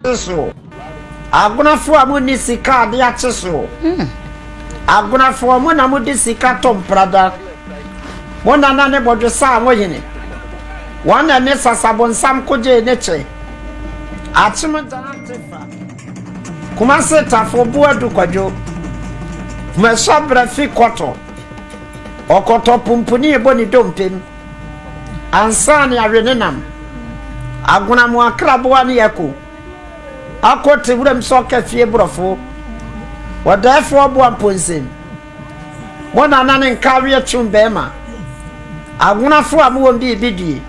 Kye so, Agonafo a munni sika ade akye so. Agonafoɔ, mo na mode sika tɔ mprada. Mo nana ne bɔdwesa a mohene. Wɔn na ne sasabonsam kogyee ne kyɛ. Akyem Ghana Tefa, Kumase Tafo Boadu Kwadwo, Kumahyɛbrɛ Fi Kɔtɔ, Ɔkɔtɔ Pumpuni Bɔ ne Dompem. Ansa ne awe ne nam. Agonamoa kraboa ne ako. Ako te wuram sɛ ɔka fie borɔfo. Ɔdaeɛfoɔ boa mponsem. Mo nana ne nka aweɛ kyew bɛrima. Agonafoɔ a mowɔ biribi die.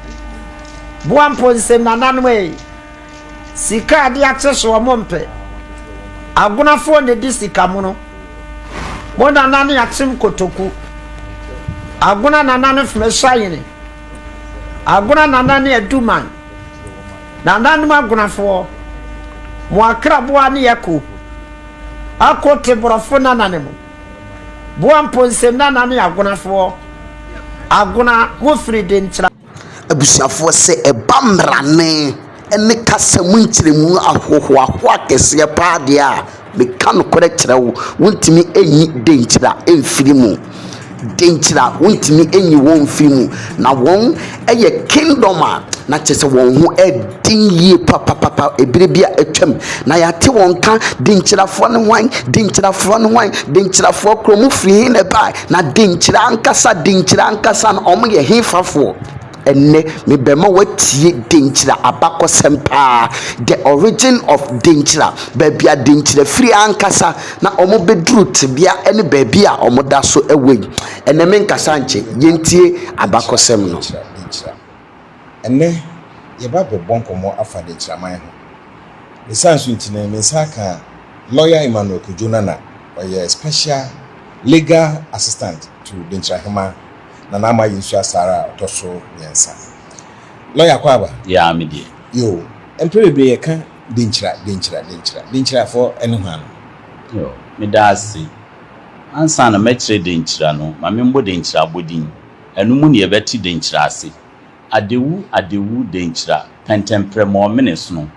Boa mponsem nananom ei. Sika ade akye so ɔmo mpɛ. Agonafoɔ na edi sika mono. Mo nana ne akyem kotoku. Agona nana ne fme hyayene. Agona nana ne aduman. Nananom agonafoɔ. Mo akraboa ne ako. Ako te borɔfo nana ne mo. Boa mponse nana ne agonafoɔ. Agona mo firi denkyira. Abusuafoɔ sɛ ɛba mmrane ne kasa mu nkyerɛmu ahohoahoa kɛseɛ pa ara deɛ a, meka nokorɛ kyerɛ wo, wontumi nyi Denkyira mfiri mu. Denkyira, wontumi nyi wɔn mfiri mu. Na wɔyɛ kingdom a na kyerɛ sɛ wɔn ho den yie papapapa ɛberɛ bi a atwam. Na yɛate wɔn nka, Denkyirafoɔ ne hwan? Denkyirafoɔ ne hwan? Denkyirafoɔ korɔ, mofiri he na ɛbaeɛ? Na denkyira ankasa denkyira ankasa no ɔmo yɛ hefafoɔ? Ɛnnɛ mebɛma watie denkyira abakɔsɛm paa the origin of denkyira baabi a denkyira firi ankasa na ɔmo bɛduru tebea ɛne baabi a ɔmo da so ɛwɔ yi. Ɛnnɛ menkasa nkyɛ yɛntie abakɔsɛm no. Ɛnnɛ, yɛreba abɛbɔ nkɔmmɔ afa Dekyiraman ho. Ne saa nso nti no, me nsa aka Lawyer Emmanuel Kojo Nana, ɔyɛ Special Legal Assistant to Denkyirahemaa Nana Ama Yensua Asare a ɔtɔ so mmiɛnsa. Lawyer kɔ aba? Yaa me deɛ. Yoo, mprɛ bebree yɛka Denkyira, Denkyira, Denkyira. Denkyirafoɔ ne hwan no? Yoo, meda ase. Ansa na mɛkyerɛ Denkyira no, ma me mbɔ Denkyira abɔdin. Ɛno mu na yɛbɛte denkyira ase. Adewu, adewu, denkyira, pɛntɛmprɛmɔɔ, menesono.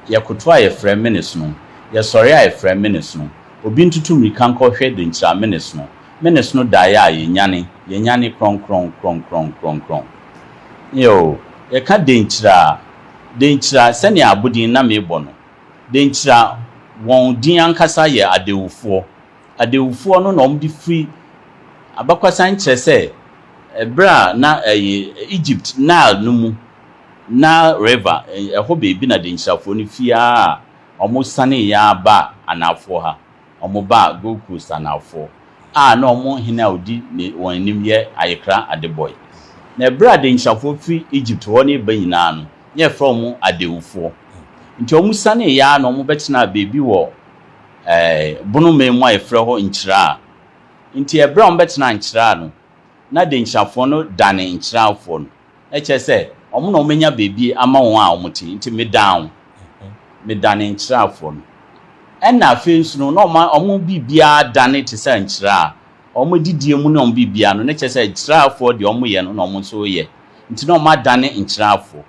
Yɛkoto a yɛfrɛ, menesono. Yɛsɔre a yɛfrɛ, menesono. Obi ntutu mmirika nkɔhwɛ denkyira, menesono. Menesono daeɛ a yɛnyane, yɛnyane, krɔnkrɔn, krɔnkrɔn, krɔnkrɔn. Eo, yɛka denkyira a, denkyira, sɛnea abodin na mebɔ no, denkyira, wɔn din ankasa yɛ adewufoɔ, adawufoɔ no na wɔde firi abakɔsɛm kyerɛ sɛ berɛ a na ɛyɛ Egypt Nile no mu, Nile River, ɛhɔ baabi na Denkyirafoɔ no firi ara a wɔsaneeɛ ara baa anaafoɔ ha, wɔbaa Gold Coast anaafoɔ a na wɔn hene a ɔdi wɔn anim yɛ Ayekra Adebɔe. Na berɛ a Denkyirafoɔ firi Egypt hɔ no reba nyinaa no, na yɛfrɛ wɔn adawufoɔ. Nti wɔsaneeɛ ara na wɔbɛtenaa baabi wɔ Ɛɛ, bono mei mu a yɛfrɛ hɔ nkyiraa. Nti ɛberɛ a wɔn bɛtenaa nkyiraa no, na Denkyirafoɔ no dane nkyiraafoɔ no. Na kyerɛ sɛ, wɔn na wɔn anya baabi ama wɔn a wɔn te. Nti me dan wo, me dane nkyiraa-foɔ no. Ɛna afei nso no, na wɔn a wɔn biribiara dane te sɛ nkyiraa. Wɔn adidie mu ne wɔn biribiara no, na kyerɛ sɛ, nkyiraa-foɔ deɛ wɔn yɛ no na wɔn nso yɛ. Nti na wɔn adane nkyiraa-foɔ.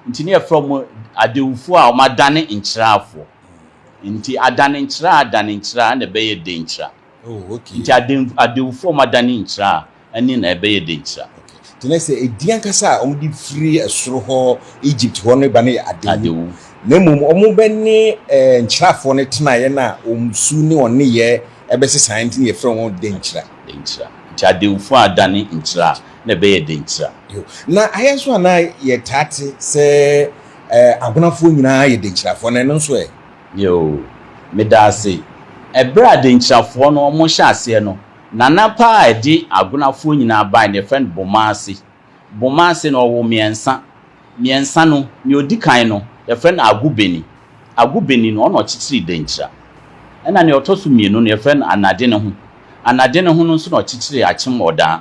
Nti ne yɛfrɛ wɔn adewfoɔ a wɔadane nkyerɛafoɔ. Nti adane nkyerɛ a adane nkyerɛ a ɛna ɛbɛyɛ denkyira. Oh, okay. Nti aden, adewfoɔ a wɔadane nkyerɛ a ɛne na ɛbɛyɛ denkyira. Okay. Nti na sɛ edin ankasa a wɔde firi ɛsoro hɔ Egypt hɔ no ba no yɛ adewu. Adewu. Na mmom wɔbɛne eh, nkyerɛafoɔ no tenaeɛ no a wɔn su ne wɔn nneyɛɛ ɛbɛsesaeɛ nti ne yɛfrɛ wɔn denkyira. Denkyira. Nti adewfoɔ a adane nkyerɛ a Na ɛbɛyɛ dɛ nkyira. Yiw, na ayɛ nso a na yɛtaa te sɛ Agwenafoɔ nyinaa yɛ Denkyirafoɔ, na ɛno nso ɛ? Yiw, meda ase. Bere a Denkyirafoɔ no wɔhyɛɛ aseɛ no, nana paa a ɛde Agwenafoɔ nyinaa bae no, yɛfrɛ no Bomaase. Bomaase no, ɔwoo mmiɛnsa. Mmiɛnsa no, nea ɔdi kan no, yɛfrɛ no Agubeni. Agubeni no, ɔno na ɔkyekyeree Denkyira. Ɛnna nea ɔtɔ so mmienu no, yɛfrɛ no Anadeneho. Anadeneho no nso na ɔkyekyeree Akyem Ɔdaa.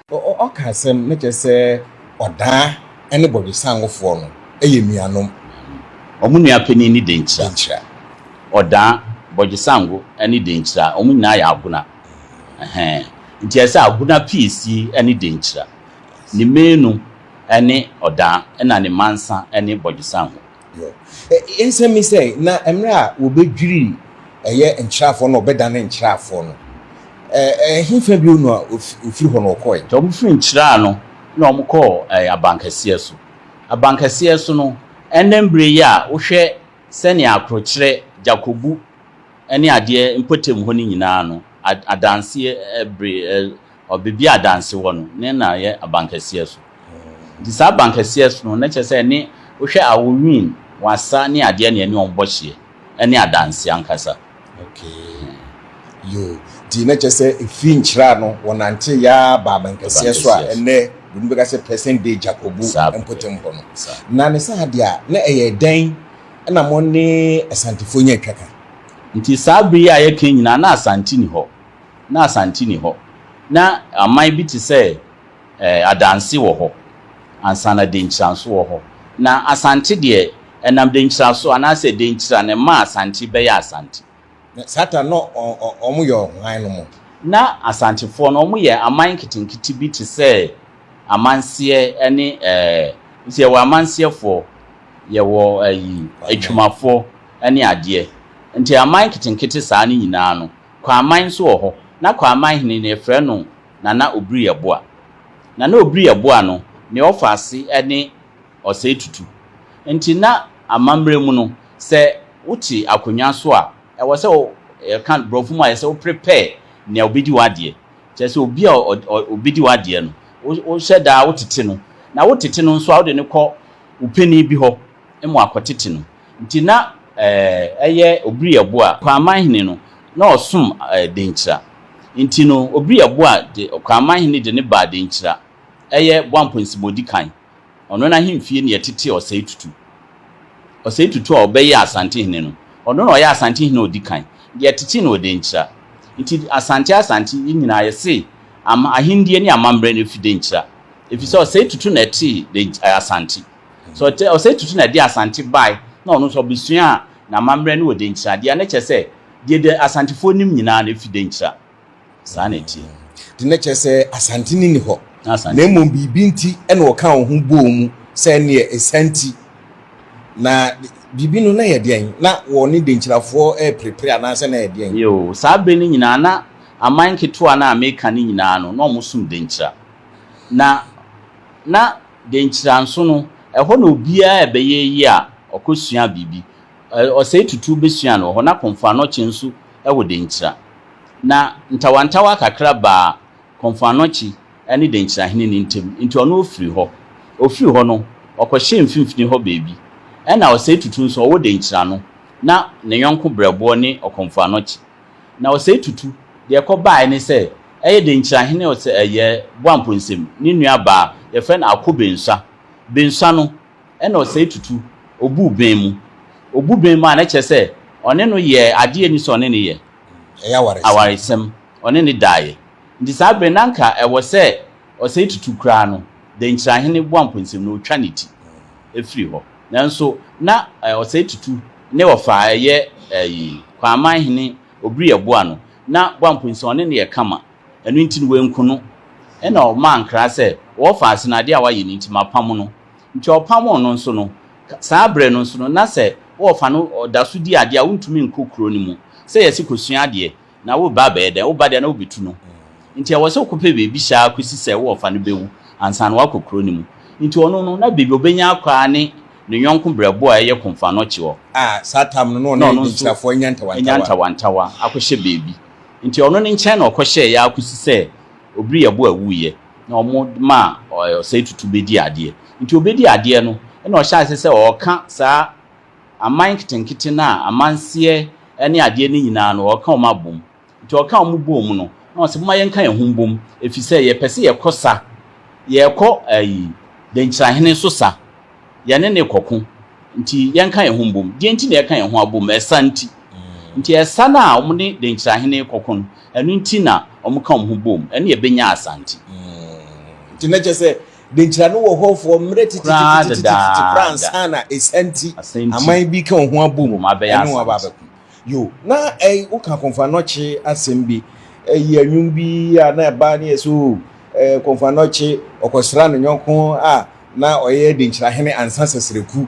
Ɔka asɛm na kyerɛ sɛ ɔdaa ne bɔdwesanwofoɔ no yɛ nuanom. Wɔn nua panin ne Denkyira. Denkyira. Ɔdaa, Bɔdwesanwo ne Denkyira, wɔn nyinaa yɛ Agona. Ɛhɛɛ. Nti ɛyɛ sɛ Agona piesie ne Denkyira. Ne Manu ne Ɔdaa ɛna ne Mansa ne Bɔdwesanwo. Yo. E, nsɛm yi sɛ, na mmerɛ a wɔbɛdwiri ɛyɛ nkyerɛafoɔ na wɔbɛdane nkyerɛafoɔ no, ɛ, ɛhefa bio na wɔfiri hɔ na wɔkɔɔɛ? Nti wɔfiri nkyerɛa no na wɔkɔɔ ɛ, abankɛseɛ so. Abankɛseɛ so no, ɛnnɛ mberɛ yi a wohwɛ sɛdeɛ akorokyerɛ, gyakɔbu ne adeɛ mpɔtam hɔ no nyinaa no, a, adanseɛ ɛ, bere, ɛ, ɔ beebi a danse wɔ no, ne na yɛ abankɛseɛ so. Nti saa abankɛseɛ so no, na kyerɛ sɛ ɛne, wohwɛ awo win, wasa ne adeɛ na ɛne wɔn bɔ hyeɛ. Ɛne adanse ankasa. Okay. Yoo. Nti na kyerɛ sɛ ɛfiri nkyerɛ ano, wɔnante yɛ ara baa abankɛseɛ so a ɛnnɛ Buroni bɛka sɛ present day Dzakobu mpɔtam hɔ no. Na ne saa deɛ a, na ɛyɛ dɛn na mo ne Asantefoɔ nya atwa ka? Nti saa bere yi a yɛka yi nyinaa, na Asante nni hɔ. na Asante nni hɔ. Ná aman bi te sɛ Adanse wɔ hɔ ansa na Denkyira nso wɔ hɔ. Na Asante deɛ, ɛnam Denkyira so, anaasɛ Denkyira na ɛmaa Asante bɛyɛɛ Asante. Na saa ta no na wɔyɛ hwan no mo? Ná Asantefoɔ no wɔyɛ aman nketenkete bi te sɛ amanseɛ ne ɛɛ, nti yɛwɔ amanseɛfoɔ, yɛwɔ ayi, atwumafoɔ ne adeɛ. Nti aman nketenkete saa no nyinaa no, Kwaman nso wɔ hɔ. Na Kwaman hene no, yɛfrɛ no Nana Obiriaboa. Nana Obiriaboa no, ne ɔfaase ne Ɔsɛe Tutu. Nti na amammerɛ mu no, sɛ wote akonnwa so a, ɛwɔ sɛ wo, yɛka no Borɔfo mu a, ɛwɔ sɛ wo prepare nea ɔbɛdi w'adeɛ. Kyerɛ sɛ obi a ɔbɛdi w'adeɛ no, wohyɛ da ara wotete no. Na wotete no nso a, wode no kɔ wo panin bi hɔ. mu akɔtete no nti na ɛyɛ Obiriabu a Ɔkraman hene no na ɔsom Denkyira nti no Obiriabu a de Ɔkraman hene de no baa Denkyira ɛyɛ Boampɔnsima Odikan ɔno no ahemfie na yɛtetee Ɔsɛe Tutu Ɔsɛe Tutu a ɔbɛyɛɛ Asante hene no ɔno na ɔyɛ Asante hene a ɔdikan de yɛtetee no wɔ Denkyira nti Asante Asante yi nyinaa yɛse ahennie ne amammerɛ no fi Denkyira efisɛ Ɔsɛe Tutu na ɛtee Asante. Sɛ ɔtɛ Ɔsɛe Tutu na ɛde Asante bae na ɔno nso ɔbesuaa n'amammerɛ no wɔ Denkyira de a, na ɛkyerɛ sɛ deɛ de Asantefoɔ nim nyinaa no efi Denkyira. Saa na ɛteɛ. Nti na ɛkyerɛ sɛ Asante no nni hɔ, Na Asante. na mmom biribi nti na wɔkaa wɔn ho bɔɔ mu sɛ ɛnneɛ esiane nti. Na biribi no na ɛyɛ deɛn? Na wɔne Denkyirafoɔ reperepere anaasɛ na ɛyɛ deɛn? Yoo, saa bere no nyinaa na aman nketewa no a meka no nyinaa no, na wɔsom Denkyira. Na na. Dɛn nkyira nso no, ɛhɔ na obiara a ɛbɛyɛ yiye a ɔkɔsuaa biribi, ɔsɛe tutuw besuaa no wɔ hɔ. Ná Komfoanokye nso wɔ Dɛn nkyira. Ná ntawantawa kakra baa Komfoanokye ne Dɛn nkyira hene no ntam, enti ɔno ofiri hɔ. Ofii hɔ no, ɔkɔhyɛɛ mfimfini hɔ baabi. Ɛnna ɔsɛe tutuw nso, ɔwɔ Dɛn nkyira no, na ne yɔnko berɛboɔ ne Ɔkomfoanokye. Na ɔsɛe tutu. Deɛ ɛkɔ baaɛ ne sɛ, ɛyɛ den kyerɛ ahene ɔsɛ ɛyɛ Boampɔ nsam. Ne nua baa, yɛfrɛ no Ako Bensua. Bensua no, ɛna ɔsɛe tutu. Ɔbuu bɛn mu. Ɔbu bɛn mu a, na kyerɛ sɛ, ɔne no yɛɛ adeɛ a ɛni sɛ ɔne no yɛ. Ɛyɛ awaresɛm. Awaresɛm. Ɔne no daeɛ. Nti saa berɛ no, na anka ɛwɔ sɛ ɔsɛe tutu koraa no, denkyirahene Boampɔ nsam no, ɔtwa ne ti firi hɔ. Nanso na ɔsɛe tutu ne ɔfa a ɛyɛ ayi. Kwaaman hene Obiri yɛ boa no, na boa mpo nsɛ ɔne no yɛ kama. Ɛno nti no wanku no. Ɛna ɔmaa nkra sɛ, Ɔwɔ fa ase na adeɛ a wayɛ no nti mapamo no. Nti ɔpamoo no nso no, saa berɛ no nso no na sɛ ɔwɔ fa no ɔda so di adeɛ a wontumi nkɔ kuro no mu sɛ yɛse kɔsua adeɛ. Na wo ba bɛyɛ dɛn? Wo ba deɛ, na wobɛtu no. Nti ɛwɔ sɛ wokɔpɛ baabi hyɛ ara kɔsi sɛ wo ɔfa no bɛwu ansa na woakɔ kuro no mu. Nti ɔno no, na baabi a ɔbɛnya akɔ ara ne ne yɔnko berɛboɔ a ɛyɛ Konfanɔkye hɔ. A saa tam no, na ɔne Aninkyirafoɔ anya ntawantawa. Anya ntawantawa akɔhyɛ baabi. Nti ɔno no nkyɛn na ɔkɔhyɛeɛ ara kɔsi sɛ Obiriyɛboa wuiɛ, na wɔmaa Ɔsɛetutu bɛdii adeɛ. Nti ɔbɛdii adeɛ no, ɛnna ɔhyɛɛ aseɛ sɛ ɔreka saa. aman nketenkete no a amanseɛ ne adeɛ no nyinaa no, wɔka wɔn abom. Nti wɔka wɔn boom no, na wɔse, Momma yɛnka yɛn ho mbom, ɛfiri sɛ yɛpɛ sɛ yɛkɔ sa, yɛrekɔ ayi, Denkyirahene so sa, yɛne no rekɔko, nti yɛnka yɛn ho mbom. Deɛ nti na yɛka yɛn ho abom? Ɛsa nti. Nti ɛsa no a wɔne Denkyirahene rekɔko no, ɛno nti na wɔka wɔn ho boom, ɛne ɛbɛnya Asante. Nti na kyerɛ sɛ, Denkyira no wɔ hɔ fɔ mmerɛ tititititititi koraa ansa na Asanti aman bi ka wɔn ho abɔ mu ɛne wɔn aba abɛko. Yo, na ɛy woka Kɔmfoanɔkye asɛm bi ɛyi anwum bi a na ɛba ne yɛ sɛ o ɛɛ Kɔmfoanɔkye ɔkɔsra ne nyɔnko a na ɔyɛ Denkyirahene Ansa Sɛsrɛku.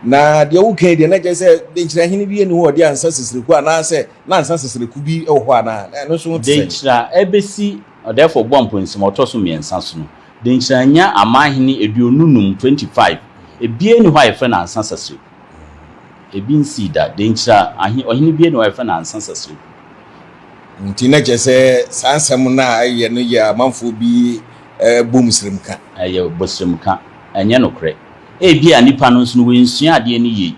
Na deɛ woka yi deɛ na kyerɛ sɛ Denkyirahene bi ɛni hɔ ɔde Ansa Sɛsrɛku anaasɛ na Ansa Sɛsrɛku bi wɔ hɔ anaa? Na ɛno nso ho te sɛn? Denkyira ɛbɛsi ɔdɛɛfoɔ Boa Mponsim a ɔtɔ so mmiɛnsa so no, Denkyira nya amanhene aduonu nnum, twenty five, ebiara nni hɔ a yɛfrɛ no Ansa Sasereku. Ebi nsii da. Denkyira ahe, ɔhene biara nni hɔ a yɛfrɛ no Ansa Sasereku. Nti na kyerɛ sɛ saa nsɛm no a ɛyɛ no yɛ amanfoɔ bi bɔ mu srem ka. Ɛyɛ bɔ srem ka. Ɛnyɛ nokorɛ. Ebia nnipa no nso no wɔansua adeɛ no yie.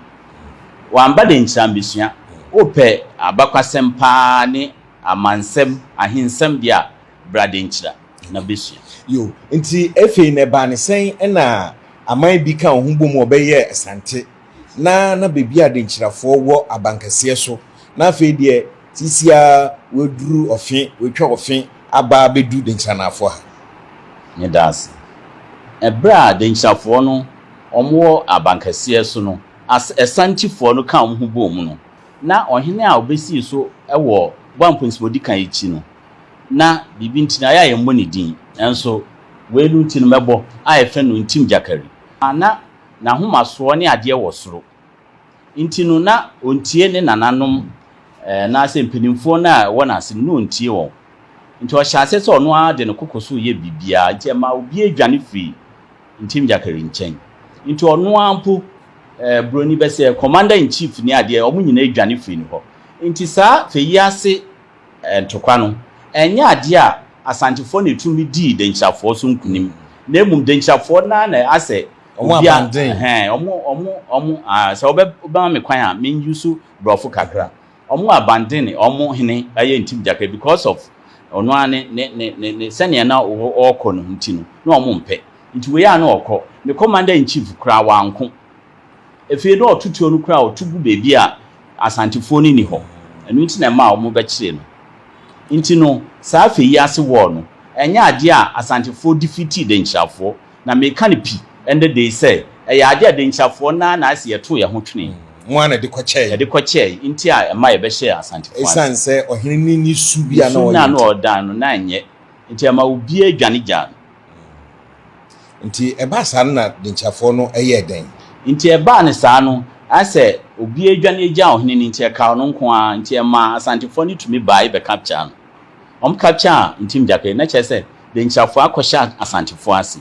Wɔamma Denkyira ammɛsua. Wopɛ abakwasɛm pa ara ne amansɛm, ahensɛm deɛ a, Bra denkyira na bɛsua. Yo, nti ɛfei no ɛbaa ne sɛn ɛna aman bi kaa wɔn ho bom wɔbɛyɛɛ Asante na na baabi a Adenkyirafoɔ wɔ abankɛseɛ so na afei deɛ seesei ara wɔaduru ɔfe, wɔatwa ɔfe aba abɛdu Denkyiranafoɔ ha. Meda ase. Ɛberɛ a Denkyirafoɔ no wɔn wɔ abankɛseɛ so no, As Asantefoɔ no kaa wɔn ho bɔɔ mu no, na ɔhene a ɔbɛsii so wɔ Boa Mponsi Modikan akyi no, na biribi nti na ayɛ a yɛmmɔ ne din, nanso weinom nti no mɛbɔ, a ɛfɛ no ntim gyakari. A na n'ahomasoɔ ne adeɛ wɔ soro nti no na ɔntie ne nananom anaasɛ mpanimfoɔ no a ɛwɔ n'ase no, na ɔntie wɔn. Nti ɔhyɛɛ aseɛ sɛ ɔno ara de ne koko so yɛ biribiara, nti ɛmaa obiara dwane firii ntim gyakari nkyɛn. Nti ɔno ara mpo buroni bɛsɛɛ, commander in chief ne adeɛ, wɔn nyinaa dwane firii ne hɔ. Nti saa fɛ yi ase Ntokwa no, ɛnyɛ adeɛ a Asantefoɔ na ɛtumi dii Dankyirafoɔ so nkunim, na mmom Dankyirafoɔ no ara na asɛ obia ɛhɛn, wɔn, wɔn, wɔn, aah, sɛ wobɛma me kwan a, men use Borɔfo kakra, wɔn abandon wɔn hene ɛyɛ Ntimgyaka because of ɔno ara ne, ne, ne, ne, ne sɛdeɛ na ɔrekɔ no nti no, na wɔn mpɛ. Nti wei a na ɔrekɔ, ne Commander in Chief koraa, wanko. Afei na ɔto tuo no koraa a, ɔto gu baabi a Asantefoɔ no nni hɔ. Ɛno nti na ɛmaa wɔbɛkyeree no. Nti no, saa afei yi ase war no, ɛnyɛ adeɛ a Asantefoɔ defeatii Dankyirafoɔ. Na meka no pi ɛnnɛ da yi sɛ, ɛyɛ adeɛ a Dankyirafoɔ no ara na ayɛ sɛ yɛtoo yɛn ho twenee. Mo ara na ɛde kɔkyɛɛe. Ɛde kɔkyɛɛe nti a ɛma yɛbɛhyɛɛ Asantefoɔ ase. Ɛsiane sɛ ɔhene no nni su bi a na ɔyɛ nti. Su no a na ɔredan no, na ɛnyɛ. Nti ɛma obiara dwane gyaa no. Nti ɛbaa saa no na denkyafoɔ no yɛɛ dɛn? Nti ɛbaa no saa no na sɛ obiara dwane gyaa ɔhene no nti ɛkaa ɔno nko ara, nti ɛmaa Asantefoɔ no tumi baae bɛkapkyaa no. Wɔn kapkyaa Ntimgyapɛ na kyerɛ sɛ denkyafoɔ akɔhyɛ Asantefoɔ ase.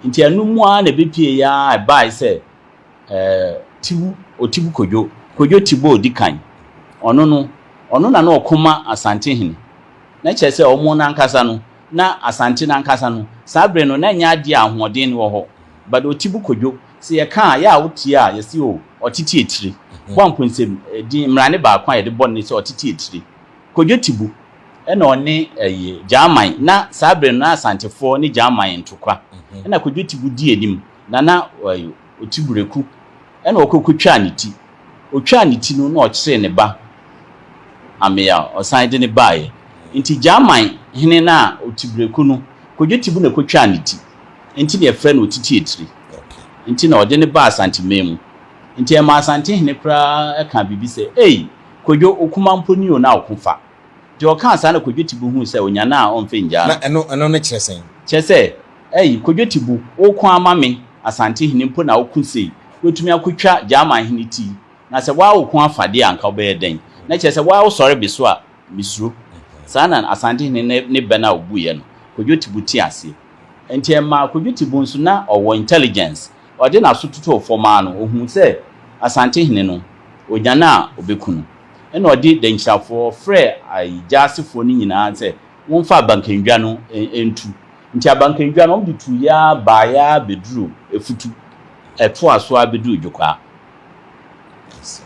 Nti ɛno mu ara na ɛbɛpueeɛ ara ɛbaae sɛ ɛɛ Tibu, Otibu Kodwo, Kodwo Tibu a ɔdi kan, ɔno no, ɔno na na ɔko ma Asantehene. na kyerɛ sɛ wɔn no ankasa no, na Asante no ankasa no, saa bere no na ɛnyɛ adeɛ a ahoɔden no wɔ hɔ, but Otibu Kojo, sɛ yɛka a, yɛ a wotie a, yɛse o, Ɔtete Atire, bɔ Amponnsem din, mmerane baako a yɛde bɔ no ne sɛ Ɔtete Atire, Kojo Tibu, ɛna ɔne ɛyi, Gyaman, na saa bere no na Asantefoɔ ne Gyaman ntokwa, ɛna Kojo Tibu di anim, na na ɛyi, Ɔtu breku na ɔkɔ kɔtwaa ne ti. Ɔtwaa ne ti no na ɔkyeree ne ba amea a ɔsan de no baeɛ. Nti Gyaman hene no a ɔtu breku no kɔdwo tibu na kɔtwaa ne ti. Nti na yɛfrɛ no Otitiatiri. Nti na ɔde no baa Asanteman mu. Nti ɛmaa Asante hene koraa kaa biribi sɛ, Ei! Kɔdwo, wo kuma mpo ni o na wo ko fa. Deɛ ɔkaa saa na Kɔdwo tibu huu sɛ ɔnyane a ɔmfa nnyaa no. Na ɛno, ɛno no kyerɛ sɛn? Kyerɛ sɛ, Ei, Kwadwo Tibu, woko ama me, Asante hene mpo na woko sei? Woatumi akotwa Gyaman hene ti? Na sɛ woaa woko afa deɛ a anka wobɛyɛ dɛn? Na kyerɛ sɛ woaa wosɔre me so a, mesuro. Saa na Asante hene ne ne bɛ no a ɔbuiɛ no, Kwadwo Tibu tee aseɛ. Enti ɛmaa Kwadwo Tibu nso, na ɔwɔ intelligence, ɔde n'aso totoo fam ara no, ɔhuu sɛ Asante hene no, ɔnya no a, ɔbɛku no. Ɛnna ɔde dankyirafoɔ frɛɛ Ayi Gyasefoɔ no nyinaa sɛ wɔmfa Abankandwa no ntu. Nti abankandwa no wɔde tuui ara baeɛ ara bɛduruu Afutu. Ɛtoaa so ara bɛduruu Dwokwaa. I see.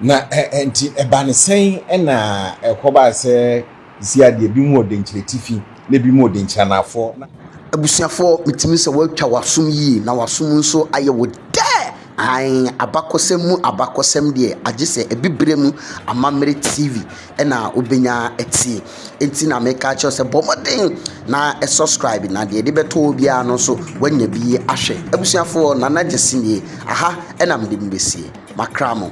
Na nti ɛbaa no sɛn na ɛkɔbaa sɛ seesei adeɛ binom wɔ Denkyira Atifi na binom wɔ Denkyira Anaafoɔ na. Abusuafoɔ, metumi sɛ wɔatwa w'asom yie na w'asom nso ayɛ wo dɛ. Aane, abakɔsɛm mu abakɔsɛm deɛ, agye sɛ abibire mu amammerɛ TV na wobɛnya atie. Enti na meka akyerɛ wo sɛ bɔ mmɔden na subscribe na deɛ de bɛtɔ wo biara no nso woanya bi ahwɛ. Abusuafoɔ, Nana Gyasi nie. Aha na mede mo bɛsie. Makra mo.